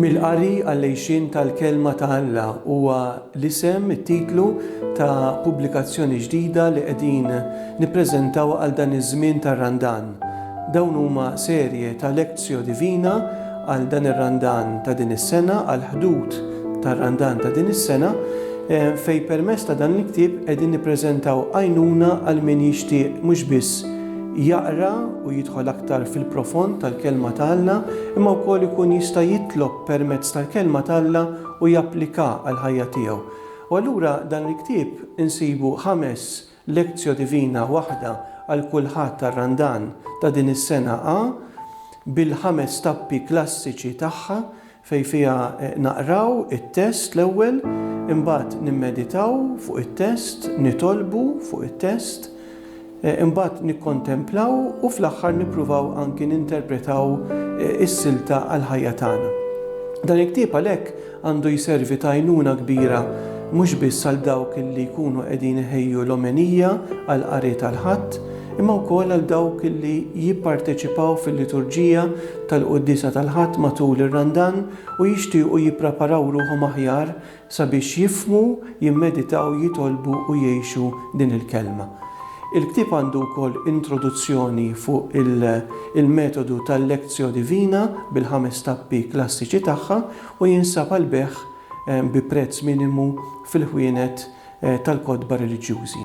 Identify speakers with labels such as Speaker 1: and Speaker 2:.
Speaker 1: Mill-qari għall-għixien tal-Kelma ta' Alla huwa l-isem, it-titlu, ta' pubblikazzjoni ġdida li qegħdin nippreżentaw għal dan iż-żmien tar-Randan. Dawn huma serje ta' lectio divina għal dan ir-Randan ta' din is-sena, għall-ħdud tar-Randan ta' din is-sena, fejn permezz ta' dan il-ktieb qegħdin nippreżentaw għajnuna għal min jixtieq mhux biss jaqra u jidħol aktar fil-profond tal-Kelma ta' Alla, imma wkoll ikun jista' jitlob permezz tal-Kelma ta' Alla u jappliká għall-ħajja tiegħu. U allura dan il-ktieb insibu ħames lectio divina, waħda għal kull Ħadd tar-Randan ta' din is-sena A, bil-ħames tappi klassiċi tagħha, fejn fiha naqraw it-test l-ewwel, imbagħad nimmeditaw fuq it-test, nitolbu fuq it-test, imbagħad nikkontemplaw u fl-aħħar nippruvaw anki ninterpretaw is-silta għall-ħajja tagħna. Dan il-ktieb għalhekk għandu jservi ta' għajnuna kbira mhux biss għal dawk li jkunu qegħdin iħejju l-omenija għall-qari tal-Ħadd, imma wkoll għal dawk li jipparteċipaw fil-liturġija tal-Quddiesa tal-Ħadd matul ir-Randan u jixtiequ jippreparaw ruħhom aħjar sabiex jifhmu, jimmeditaw, jitolbu u jgħixu din il-Kelma. Il-ktieb għandu wkoll introduzzjoni fuq il-metodu tal-Lectio Divina bil-ħames tappi klassiċi tagħha u jinsab għall-bejgħ bi prezz minimu fil-ħwienet tal-kotba reliġjużi.